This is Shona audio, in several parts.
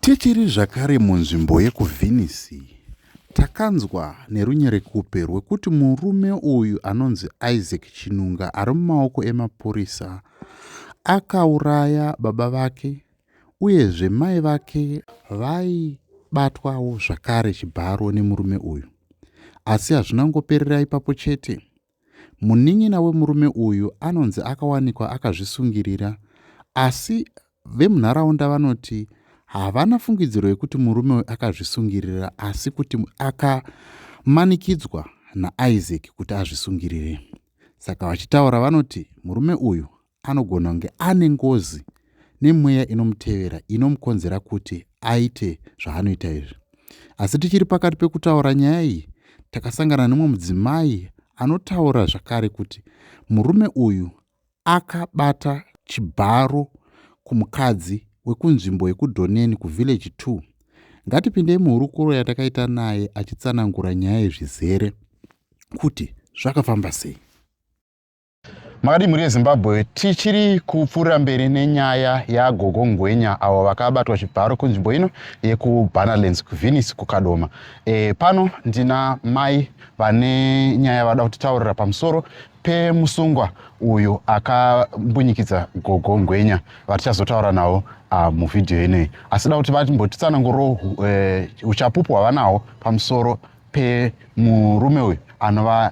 Tichiri zvakare munzvimbo yekuVenice, takanzwa nerunyerekupe rwekuti murume uyu anonzi Isaac Chinunga ari mumaoko emapurisa akauraya baba vake uyezve mai vake vaibatwawo zvakare chibharo nemurume uyu. Asi hazvina kungoperera ipapo chete. Munin'ina wemurume uyu anonzi akawanikwa akazvisungirira asi vemunharaunda vanoti havana fungidziro yekuti murume uyu akazvisungirira asi kuti akamanikidzwa naIsaac kuti azvisungirire. Saka vachitaura vanoti murume uyu anogona kunge ane ngozi nemweya inomutevera inomukonzera kuti aite zvaanoita izvi asi tichiri pakati pekutaura nyaya iyi takasangana nemwe mudzimai anotaura zvakare kuti murume uyu akabata chibharo kumukadzi wekunzvimbo yekudhoneni kuvillage 2 ngatipindei muhurukuro yatakaita naye achitsanangura nyaya yezvizere kuti zvakafamba sei Makadii mhuri yeZimbabwe, tichiri kupfuurira mberi nenyaya yaGogo Ngwenya avo vakabatwa chibharo kunzvimbo ino yekuBanalands kuVenice kuKadoma. E, pano ndina mai vane nyaya vada kutitaurira pamusoro pemusungwa uyu akambunyikidza Gogo Ngwenya vatichazotaura navo ah, muvhidhiyo ineyi. Asi da kuti vatimbotitsananguro e, uchapupu hwavanahwo pamusoro pemurume uyu anova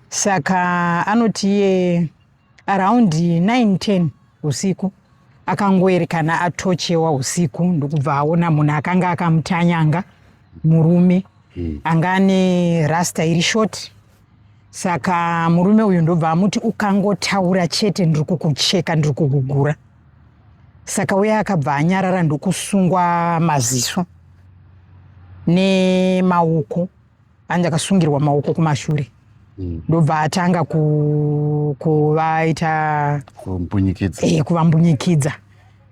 saka anoti iye around 910 usiku akangoerekana atochewa usiku ndokubva aona munhu akanga akamutanyanga murume hmm. anga ane rasta iri short saka murume uyu ndobva amuti ukangotaura chete ndiri kukucheka ndiri kugugura saka uye akabva anyarara ndokusungwa maziso nemaoko anga akasungirwa maoko kumashure mm. ndobva atanga kuvaita eh, kuvambunyikidza ku,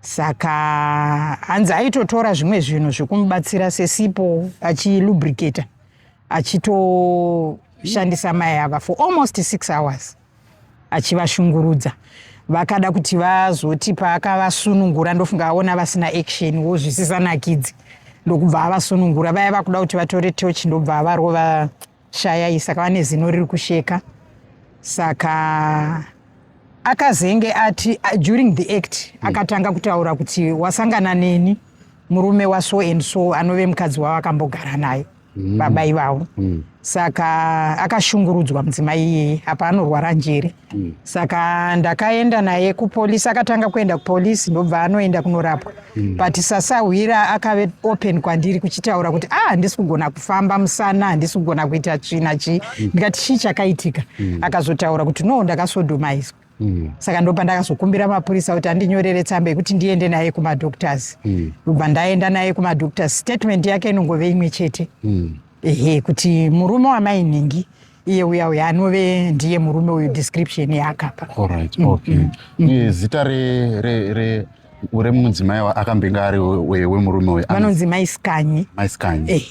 saka hanzi aitotora zvimwe zvinhu zvekumubatsira sesipo achilubricata achitoshandisa mai ava for almost six hours achivashungurudza vakada kuti vazoti paakavasunungura ndofunga aona vasina action wo zvisisanakidzi ndokubva avasunungura vaya vakuda kuti vatore toch ndobva avarova shayai saka vane zino riri kusheka saka akazenge ati uh, during the act mm. akatanga kutaura kuti wasangana neni murume waso and so anove mukadzi wavo akambogara naye mm. baba ivavo mm. saka akashungurudzwa mudzimai iyeye apa anorwara njere mm. saka ndakaenda naye kupolisi akatanga kuenda kupolisi ndobva anoenda kunorapwa mm. but sasahwira akave open kwandiri kuchitaura kuti a ah, handisi kugona kufamba musana handisi kugona kuita china chii mm. ndikati chii chakaitika mm. akazotaura kuti no ndakasodomaizwa mm. saka ndo pandakazokumbira mapurisa kuti andinyorere tsamba yekuti ndiende naye kumadoctors mm. ndobva mm. ndaenda naye kumadoctors statement yake inongove imwe chete mm. ehe kuti murume wamainhingi iye uya uya anove ndiye murume uyu description yaakapa right, mm, okay. mm. mm. mm. zita re, re, re ure mudzimai akambenge ari wemurume uyu vanonzi maiskanyi maiskanyi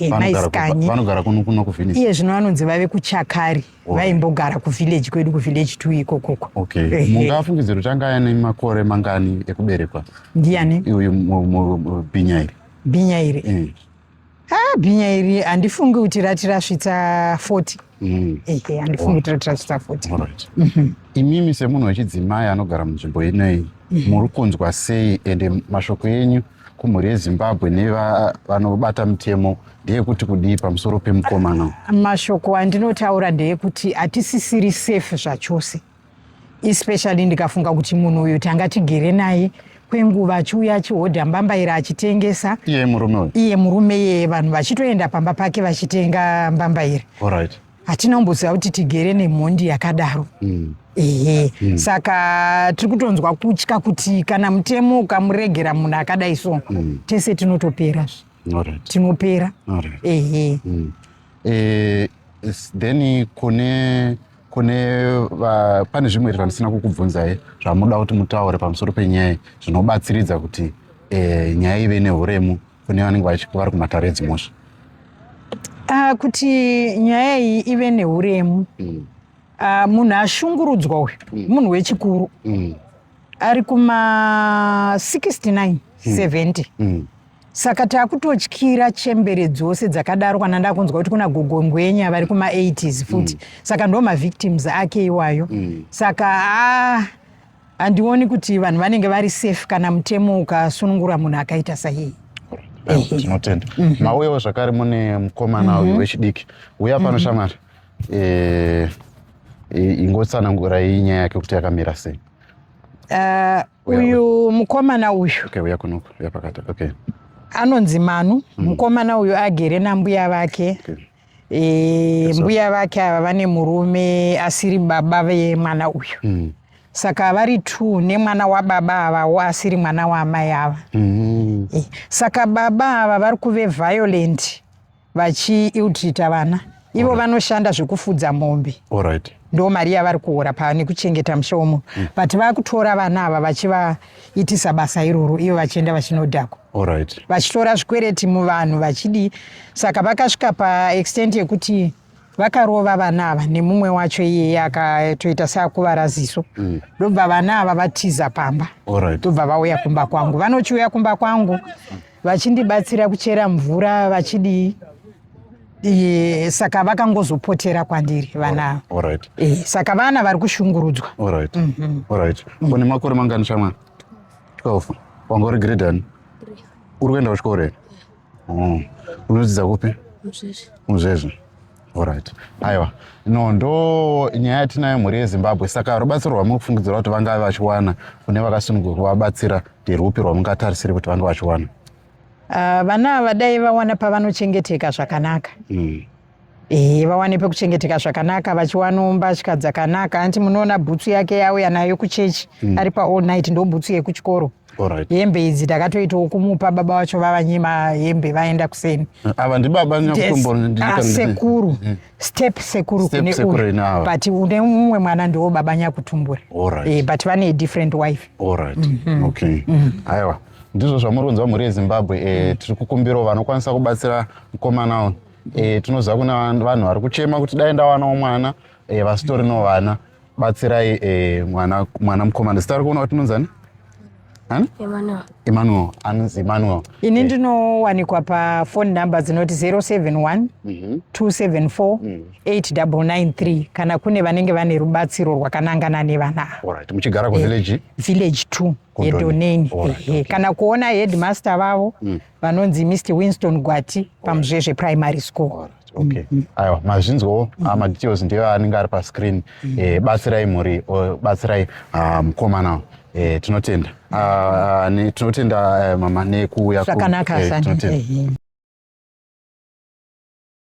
vanogara kuno kuno kuvenice iye zvino vanonzi vave kuchakari vaimbogara kuvillage kwedu kuvillage two ikokoko okay. mungafungidze kuti anga ane makore mangani ekuberekwa ndiani uyu bhinya iri bhinya iri eh. ah, bhinya iri handifungi kuti rati rasvitsa 40 mm. ehe handifungi kuti rati rasvitsa 40 mhm. imimi semunhu wechidzimai anogara munzvimbo inei mhm. muri kunzwa sei ende mashoko enyu mm. kumhuri yezimbabwe nevanobata mutemo ndeyekuti kudii pamusoro pemukomana mashoko andinotaura ndeyekuti hatisisiri safe zvachose especially ndikafunga kuti munhu uyu tanga tigere naye kwenguva achiuya achihodha mbambaira achitengesa iye murume iye murume yeye vanhu vachitoenda pamba pake vachitenga mbambaira right. hatina kumboziva kuti tigere nemhondi yakadaro mm. ehe mm. saka tiri kutonzwa kutya kuti kana mutemo ukamuregera munhu akadai so mm. tese tinotopera right. tinopera right. ehe mm. e, then kune kune va, pane zvimwe zvandisina kukubvunzai zvamuda kuti mutaure pamusoro penyaya zvinobatsiridza kuti e, nyaya ive nehuremu kune vanenge vari kumatare edzimhosva ah, kuti nyaya iyi ive neuremu mm. ah, munhu ashungurudzwa uyu mm. munhu wechikuru mm. ari kuma 69 70 mm. mm. saka taakutotyira chembere dzose dzakadaro kana ndakunzwa kuti kuna gogo ngwenya vari kuma 80s futi mm. saka ndo mavictims ake iwayo mm. saka ah, handioni kuti vanhu vanenge vari safe kana mutemo ukasunungura munhu akaita saiyeye tinotenda mhm. mauyawo zvakare mune mukomana uyu mhm. wechidiki uya pano mhm. shamwari eh, ingotsanangurai nyaya yake kuti yakamira sei eh, uyu mukomana uyu okay, uya kunoku uya pakati okay anonzi manu mm. mukomana uyu agere nambuya vake okay. e, mbuya vake ava vane murume asiri baba vemwana uyu mm. saka vari t nemwana wababa avawo asiri mwana waamai ava mm. e, saka baba ava vari kuve violent vachiiltrita vana ivo vanoshanda zvekufudza mombe right. ndo mari yavari kuhora pane kuchengeta musha womunhu mm. but vakutora vana ava vachivaitisa basa iroro ivo vachienda vachinodhakwa right. vachitora zvikwereti muvanhu vachidii saka vakasvika paextent yekuti vakarova vana ava nemumwe wacho iyeye akatoita seakuvara ziso mm. ndobva mm. vana ava vatiza pamba ndobva right. vauya kumba kwangu vanochiuya kumba kwangu vachindibatsira kuchera mvura vachidii Iye, saka vakangozopotera kwandiri vana ava. All right. Eh, saka vana vari kushungurudzwa All right. All right. Une makore mangani shamwa? 12. Wanga uri grade ani? Uri kuenda kuchikoro here? Oh. Unodzidza kupi? Muzvezvi. Muzvezvi. All right. Aiwa. No, ndo nyaya yatinayo mhuri yeZimbabwe. Saka rubatsiro rwamuri kufungidzira kuti vangave vachiwana kune vakasunungurwa kuvabatsira nderwupi rwamungatarisire kuti vange vachiwana? Uh, vana ava dai vawana pavanochengeteka zvakanaka mm. E, vawane pekuchengeteka zvakanaka vachiwanawo mbatya dzakanaka anti munoona bhutsu yake yauya nayo kuchechi mm. ari pa all night ndo bhutsu yekuchikoro right. hembe idzi takatoitawo kumupa baba vacho vavanyima hembe vaenda kuseni ava ndibaba nyakutumbuasekuru ah, mm. step sekuru kune uyu but une mumwe mwana ndiwo baba nyakutumbura right. e, but vane different wife right. mm -hmm. okay. mm -hmm. aiwa ndizvo zvamuri kunzwa mhuri yezimbabwe e, tiri kukumbirawo vanokwanisa kubatsira mukomana uyu e, tinoziva kuna vanhu vari kuchema kuti dai ndawanawo mwana e, vasitori no vana batsirai e, mwana, mwana mukomana zita rikuona kuti inonzani emmanuel anonzi emmanuel ini ndinowanikwa pafone number dzinoti 071 274 8993 kana kune vanenge vane rubatsiro rwakanangana nevana muchigara kuvillage village 2 yedoneni ehe kana kuona headmaster vavo mm. vanonzi mr winston gwati pamuzvezve primary school All right okay mm-hmm. aiwa mazvinzwawo ah, mm-hmm. madetails ndiyo anenge ari pascreen mm-hmm. eh, batsirai mhuri batsirai ah, mukomana eh, tinotenda ah, tinotenda eh, mama nekuuya zvakanaka tinotenda